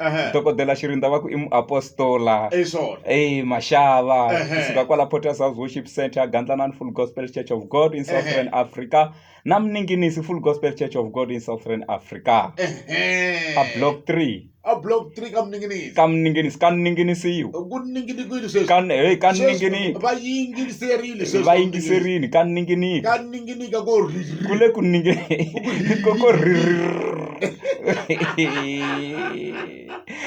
Ehe. dokodela xirinda va ku i muapostola Hi swona. Hey, maxava Ehe. kusuka kwala Potter's House Worship Center Gandlanani Full Gospel Church of God in Southern Africa na Mninginisi Full Gospel Church of God in Southern Africa Ehe. a block 3 A block three ka Mninginisi. ka Mninginisi ka Mninginisiwa Ku ningini kwini sweswi? ka hey, ka Sweswi Mninginisi Va yingiriserile sweswi. va yingiserini ka Mninginisi Ka nyika ko ku le ku nyike ko ko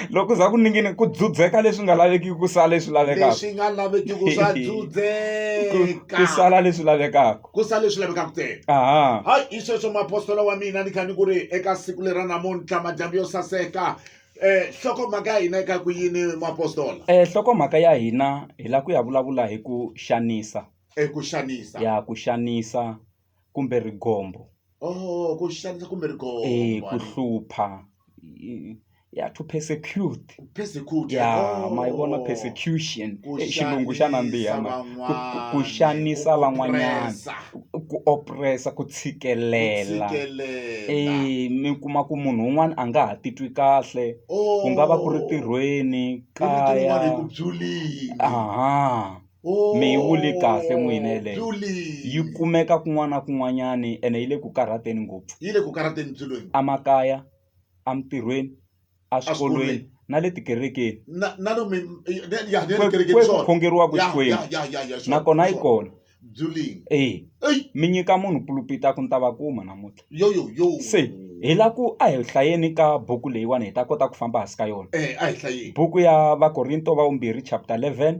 loko za ku ningini ku dzudzeka leswi nga lavekiki ku sala leswi lavekaka leswi nga lavekiki swa dzudzeka ku sala leswi lavekaka ku sala leswi lavekaka ntsena aha hayi i sweswo mapostola wa mina ni kha ni ku ri eka siku leri ra namuntlha madyambu yo saseka Eh nhlokomhaka ya hina eka ku yini mapostola? Eh nhlokomhaka ya hina hi la ku ya vulavula hi ku xanisa. e ku xanisa ya ku xanisa kumbe rigombo oh ku xanisa kumbe rigombo eh ku hlupha ya to persecute persecute ya oh. ma yi vona persecution eh, xilungu xa nandziha ku xanisa van'wanyana ku opressa ku tshikelela eh mi kuma ku munhu un'wana a nga ha titwi kahle ku nga va ku ri oh. tirhweni kaya aha mi yi vule kahle n'wina yeleyo yi kumeka kun'wana na kun'wanyani ene yi le ku karhateni ngopfu yi le ku karhateni byi lweni emakaya emintirhweni eswikolweni na le tikerekeni kweku khongeriwaka xikwembu nakona yi kona e mi nyika munhu pulupita ku ni ta va kuma namuntlha se hi la ku a hi hlayeni ka buku leyiwani hi ta kota ku famba hansi ka yona buku ya vakorinto va vumbirhi chapter eleven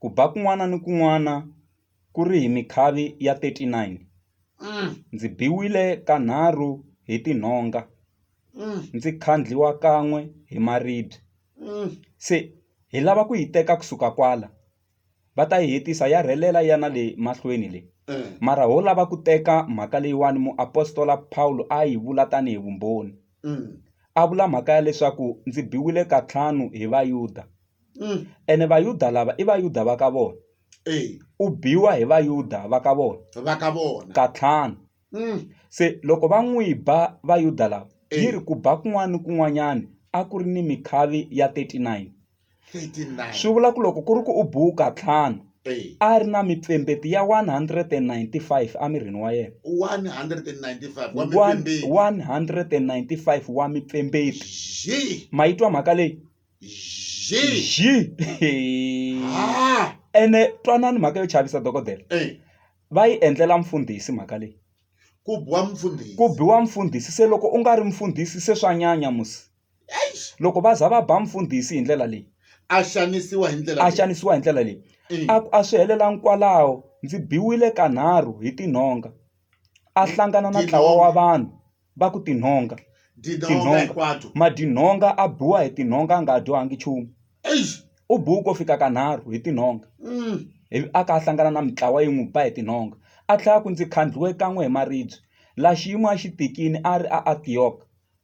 ku ba kun'wana ni kun'wana ku ri hi mikhavi ya 39. Ndzi biwile kanharhu hi tinhonga, ndzi khandliwa kan'we hi maribye. Se hi lava ku yi teka ku suka kwala. Va ta yi hetisa ya rhelela yi ya na le mahlweni le. Mara ho lava ku teka mhaka leyiwani muapostola Pawulo a yi vula tanihi vumbhoni. A vula mhaka ya leswaku ndzi biwile kantlhanu hi Vayuda. ene Vayuda lava i Vayuda va ka vona, u biwa hi Vayuda va ka vona katlhanu. Se loko va n'wi ba Vayuda lava, yi ri ku ba kun'wana ni kun'wanyana a ku ri ni mikhavi ya 39. Swi vula ku loko ku ri ku u biwe katlhanu, a ri na mipfembeti ya 195 emirini wa yena. 195 wa mipfembeti. Ma yi twa mhaka leyi? Zhi. zhi Hey. Ha. ene twanani mhaka yo chavisa dokodela Eh. va yi endlela mfundhisi mhaka leyi Ku biwa mfundhisi. ku biwa mfundhisi se loko u nga ri mfundhisi se swa nyanya musi Eish. loko va za va ba mfundhisi hi ndlela leyi A xanisiwa hi ndlela a leyi. xanisiwa hi ndlela leyi Eh. a ku a swi helelangi kwalaho ndzi biwile kanharhu hi tinhonga a hlangana na ntlawa wa vanhu va ku tinhonga tinhonga hinkwato madinhonga a biwa hi tinhonga a nga dyohanga nchumu u biwe ko fika ka nharhu hi tinhonga mm. ivi a ka a hlangana na mitlawa yi n'wi ba hi tinhonga a tlhela ku ndzi khandliwe kan'we hi maribye la xiyimo a xi tikini a ri a antiyok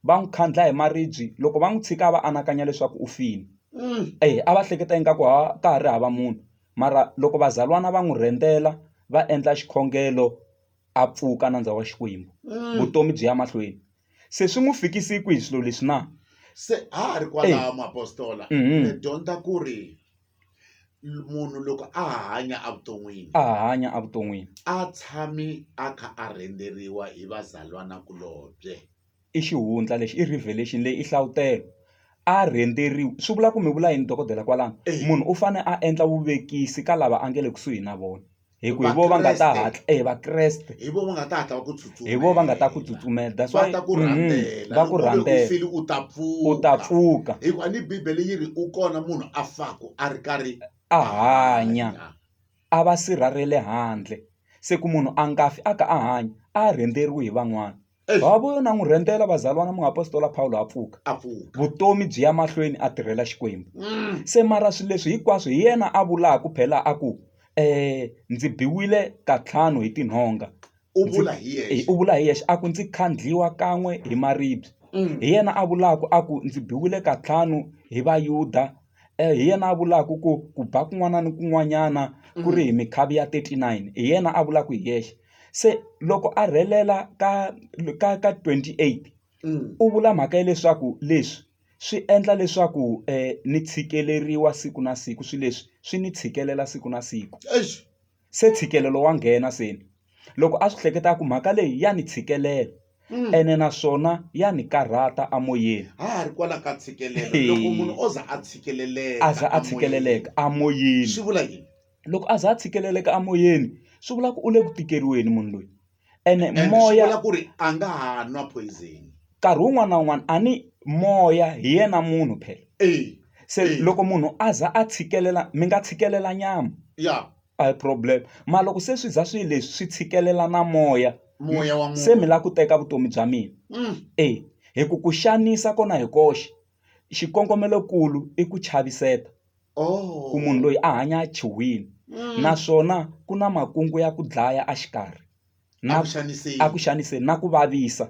va n'wi khandla hi maribye loko va n'wi tshika a va anakanya leswaku u file mm. e a va hleketa ingaku ha ka ha ri hava munhu mara loko vazalwana va n'wi rhendzela va endla xikhongelo a pfuka nandza wa Xikwembu, mm. vutomi byi ya mahlweni. Se swi n'wi fikisi kwihi swilo leswi na? Se ha ha ri kwalaho muapostola mm -hmm. ni dyondza ku ri munhu loko a hanya evuton'wini a hanya evuton'wini a tshami a kha a rhenderiwa hi vazalwanakulobye I xihundla lexi i revelation leyi i hlavutelo a rhenderiwe swi vula ku mi vula yini dokodela kwalano munhu u fane a endla vuvekisi ka lava a nge le kusuhi na vona hi ku hi vo va nga ta hatla e vakreste hi vo va nga ta hatla va ku tsutsuma hi vo va nga ta ku tsutsumela that's why va ku rhandzela va ku rhandzela u ta pfuka u ta pfuka hi ku a ni bibele yi ri u kona munhu a faku a ri karhi a hanya a va sirha ra le handle se ku munhu a nga fi a ka a hanya a rhenderiwe hi van'wana va vuyo na n'wi rhentela vazalwana muapostola pawulo a pfuka a pfuka vutomi byi ya mahlweni a tirhela xikwembu Mm. se mara swilo leswi hinkwaswo hi yena a vulaka ku phela a ku um ndzi biwile katlhanu hi tinhonga u Ndzi- vula hi Eh, yexe u vula hi yexe a ku ndzi khandliwa kan'we hi maribye Mm. hi yena a vulaka a ku ndzi biwile katlhanu hi vayuda hi yena a vulaka ku ku ba kun'wana na kun'wanyana ku ri hi mikhavi ya thirty nine hi yena a vulaka hi yexe se loko a rhelela ka ka ka twenty eight u vula mhaka ya leswaku leswi swi endla leswaku ni tshikeleriwa siku na siku swilo leswi swi ni tshikelela siku na siku. se ntshikelelo wa nghena se ni loko a swi hleketa a ku mhaka leyi ya ni tshikelela ene naswona ya ni karhata amoyeni ha ha ri kwala ka ntshikelelo loko munhu o za a tshikeleleka a za a tshikeleleka amoyeni swi vula yini loko a za a tshikeleleka amoyeni swi vula ku u le ku tikeriweni munhu loyi ene and swi moya vula ku ri a nga ha nwa poison nkarhi wun'wana na wun'wana a ni moya hi yena munhu phela e se Eh. loko munhu a za a tshikelela mi nga tshikelela nyama ya a hi problem mara loko se swi za swi leswi swi tshikelela na moya moya wa se mi munhu lava ku teka vutomi bya mina Mm. e hi ku ku xanisa kona hi koxe xikongomelokulu i ku chaviseta ku munhu loyi a hanya a chuhile mm. naswona ku na makungu ya ku dlaya exikarhi a ku xaniseni na ku vavisa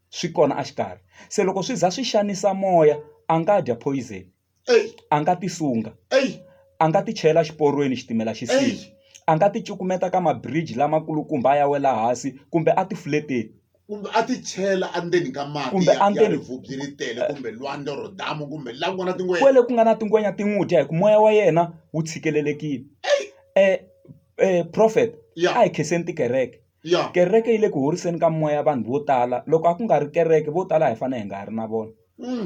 swi kona exikarhi se loko swi za swi xanisa moya a nga dya poison a nga tisunga a nga ti chela xiporweni xitimela xi sile a nga ti cukumeta ka mabridge lamakulukumba a ya wela hansi kumbe a ti fleteni kumbe a ti chela endzeni ka mati Kumbe ya- ya endzeni- rivubyi ri tele kumbe lwandle or damu kumbe la ku nga na tingwenya kwele ku nga na tingwenya ti n'wi dya hi ku moya wa yena wu tshikelelekile eh eh prophet Ya. a hi khenseni tikereke ya kereke yi le ku horiseni ka moya vanhu vo tala loko a ku nga ri kereke vo tala a hi fanele hi nga ha ri na vona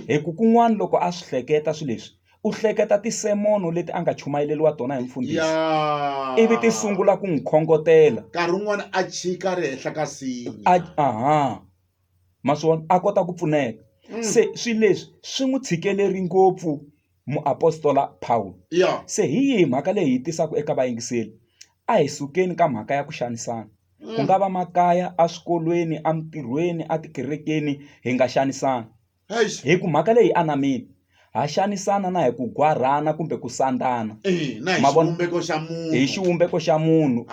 hi ku kun'wana loko a swi hleketa swilo leswi u hleketa tinsimu leti a nga chumayeriwa tona hi mfundhisi ivi ti sungula ku n'wi khongotela nkarhi wun'wana a chika ri henhla ka a aha ma swona a kota ku pfuneka se swilo leswi swi n'wi tshikeleri ngopfu. muapostola Pawulo, se hi yihi mhaka leyi hi tisaka eka vayingiseri? A hi sukeni ka mhaka ya ku xanisana. Ku nga va makaya, eswikolweni, emintirhweni, etikerekeni, hi nga xanisani. Hi ku mhaka leyi yi anamile. Ha xanisana na hi ku gwarhana kumbe ku sandzana. Hi xivumbeko xa munhu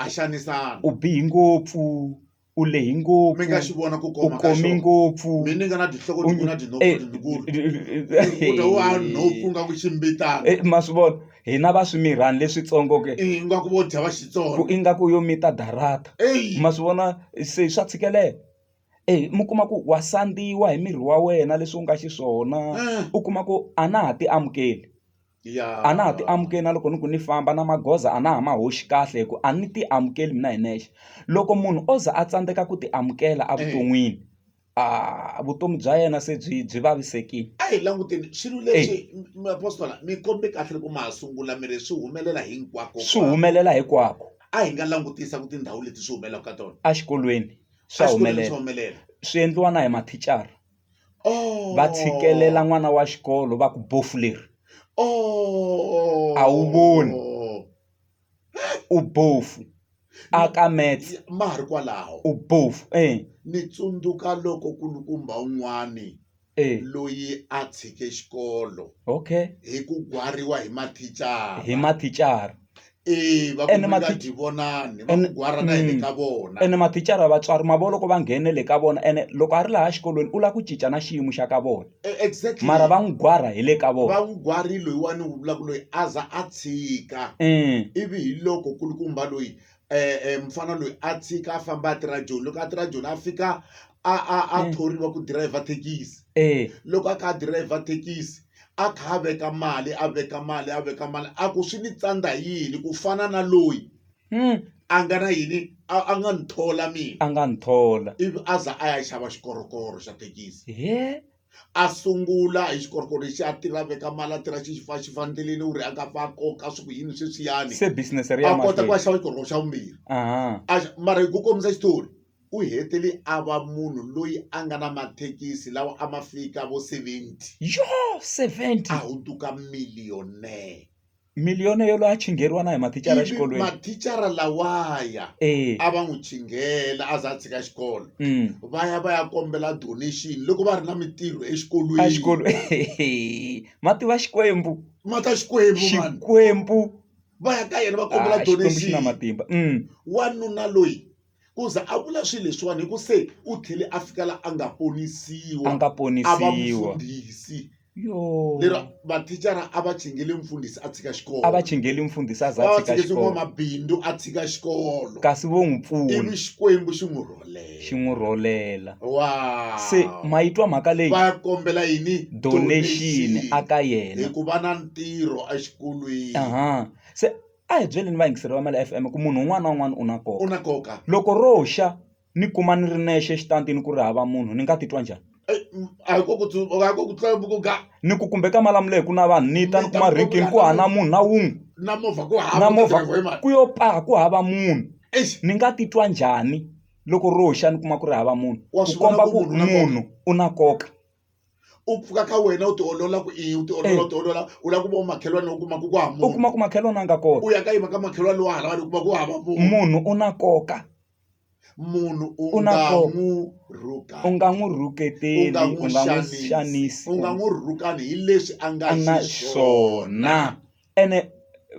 u bihe ngopfu. u lehe ngopfu mi nga xi vona ku koma ka xona u kome ngopfu mi ni nga na tinhloko ti na tinhompfu eh, letikulu eh, eh, u ta wa nhompfu nga ku ximbitana ma swi vona hina va swimirhani leswitsongo ke ingaku vo dya va xitsongo ingaku yo mita darata ma swi vona se swa tshikelela e mi kuma ku wa sandziwa hi miri wa wena leswi u nga xiswona u kuma ku a na ha ti amukeli a na ha ti amukeli na loko ni ku ni famba na magoza a na ha ma hoxi kahle hi ku a ni ti amukeli mina hi nexe loko munhu o za a tsandzeka ku ti amukela evuton'wini a vutomi bya yena se byi byi vavisekile a hi languteni swilo leswi mapostola mi kombe kahle loko ma ha sungula mi ri swi humelela hinkwako swi humelela hinkwako a hi nga langutisa ku tindhawu leti swi humelelaka ka tona exikolweni swa humelela swi endliwa na hi mathicara. va tshikelela n'wana wa xikolo va ku bofu leri a wu voni u bofu a ka mets ma ha ri kwalaho u bofu e ni tsundzuka loko kulukumba un'wani e loyi a tshike xikolo okay hi ku gwariwa hi mathicara hi mathicara Eya va Ene kumeka mati- tivonani va Ene- gwara na yini Mm. ka vona ene mathicara ya vatswari ma vo loko va nghenele ka vona ene loko a ri laha xikolweni u lava ku cinca na xiyimo xa ka vona E- exactly mara va n'wi gwara hi le ka vona va n'wi gwari loyiwani wu vulaka loyi a za a tshika um ivi hi loko kulukumba loyi e mufana loyi a tshika a famba a tirha joni loko a tirha joni a fika a a a thoriwa ku dirayivha thekisi loko a kha a dirayivha thekisi a kha a veka mali a veka mali a veka mali a ku swi ni tsandza hi yini ku fana na loyi a nga na yini a a nga ni thola mina a nga ni thola ivi a za a ya xava xikorokoro xa thekisi . a sungula hi xikorokoro lexi a tirha a veka mali a tirha xi xi fa xi fa endleleni u ri a nga pfa a koka swi ku yini sweswiyani se business ri ya a kota ku a mahlweni xava xikorokoro xa vumbirhi Aha. a xa- mara hi ku kombisa xitori u hetele a va munhu loyi a nga na mathekisi lawa a ma fika vo 70 yo 70 a hundzuka millionaire Million yo loyi a chingheriwa na hi mathicara ivi exikolweni mathicara lawaya e a va n'wi chinghela a za a tshika xikolo mm. va ya va ya kombela donation loko va ri na mintirho a exikolweni xikolo ma tiva xikwembu ma ta xikwembu mani xikwembu va ya ka yena va kombela Ah, xikwembu xi na donation matimba mm. wanuna loyi ku za a vula swilo leswiwani hi ku se u tlhele a fika la a nga ponisiwa a nga ponisiwa a va mufundhisi lero mathicara a va chingele mfundhisi a tshika xikolo a va chingele mfundhisi a za a tshika xikolo mabindu a tshika xikolo kasi vo n'wi pfuna ivi xikwembu xi n'wi rholela xi n'wi rholela wa se ma yi twa mhaka leyi va kombela yini donation a ka yena hikuva na ntirho exikolweni se a hi byeleni vayingiseri va Mali FM ku munhu un'wana na un'wana u na nkoka u na nkoka loko ro xa ni kuma ni ri nexe exitantini ku ri hava munhu ni nga titwa njhani a hi ku ku a ku ku tlula vukunga ni ku kumbe ka malamula hi ku na vanhu ni ta ni kuma rinkini ku hava na munhu na wun'we na movha ku hava na movha ku yo paha ku hava munhu ni nga titwa njhani loko ro xa ni kuma ku ri hava munhu ku komba ku munhu u na nkoka. u pfuka ka wena u tiolola ku i u tiolola Eh. u tiolola u lava ku va makhelwani u kuma ku ku hava u munhu kuma ku makhelwani a nga kota u ya ka yima ka makhelwani lowa halawani u kuma ku hava munhu munhu u na koka munhu u U na nga nkoka. n'wu rhukani u nga n'wi u nga rhuketeli n'wu u nga n'wi xanisi xanisi u nga n'wu rhukani hi leswi a nga a nga xiswona xiswona ene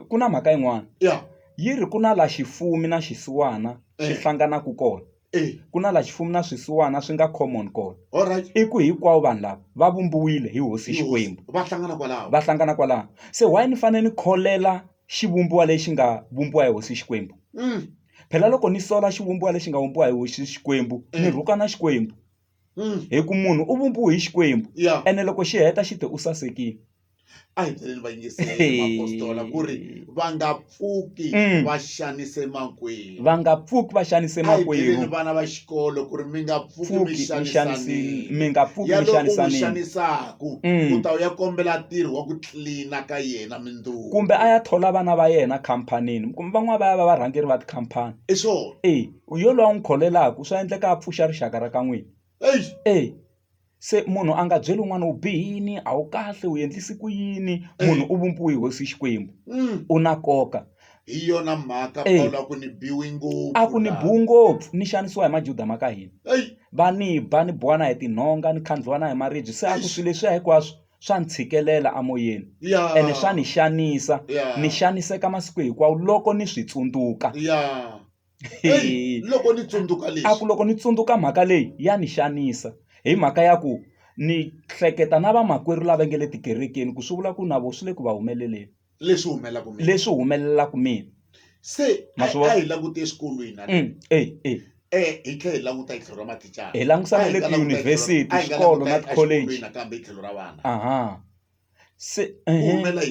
ku na mhaka yin'wana ya yi ri ku na la xifumi na xisiwana swi Eh. hlanganaka kona e ku na la xifumi na swisiwana swi nga common kona all right i ku hikwavo vanhu lava va vumbiwile hi hosi xikwembu va hlangana kwalaho va hlangana kwalaho se why ni fanele ni kholela xivumbiwa lexi nga vumbiwa hi hosi xikwembu Mm, phela loko ni sola xivumbiwa lexi nga vumbiwa hi hosi xikwembu ni Eh. rhukana xikwembu hi ku munhu u vumbiwe hi Xikwembu ene loko xi heta xi te u sasekile a hi byeleni vayingiseliapostola ku ri va nga pfuki mm. va xanise makwerhu va nga pfuki va xanise makwerhu vana va xikolo ku ri mi nga pfuki mi xanisanile mi nga pfuki mi xanisanile xanisaku mm. ku ta u ya kombela ntirho wa ku tlilina ka yena mindzuku kumbe a ya thola vana va yena khampanini kumbe van'wana va ya va varhangeri va tikhampani i swona e Ku yo loyi a n'wi kholelaka swa endleka a pfuxa rixaka ra ka n'wina e se munhu a nga byeli un'wana u bihe yini a wu kahle u endlise ku yini munhu u vumbiwe hi hosi xikwembu u na nkoka hi yona mhaka a ku ni biwi ngopfu a ku ni biwi ngopfu ni xanisiwa hi majuda ma ka hina va ni ba ni biwa na hi tinhonga ni khandliwa na hi maribye se a ku swilo leswiya hinkwaswo swa ni tshikelela emoyeni ene swa ni xanisa ni xaniseka masiku hinkwawo loko ni swi tsundzuka. loko ni tsundzuka leswi a ku loko ni tsundzuka mhaka leyi ya ni xanisa hi mhaka ya ku ni hleketa na vamakwerhu lava nge le tikerekeni ku swi vula ku na vona swi le ku va humeleleni leswi humelelaka mina leswi humelelaka mina se a hi langute eswikolweni na mm, e e e hi tlhela hi languta hi tlhelo ra mathicara hi langusana le tiyunivhesiti swikolo na tikholeji nakambe hi tlhelo ra vana aha se humelela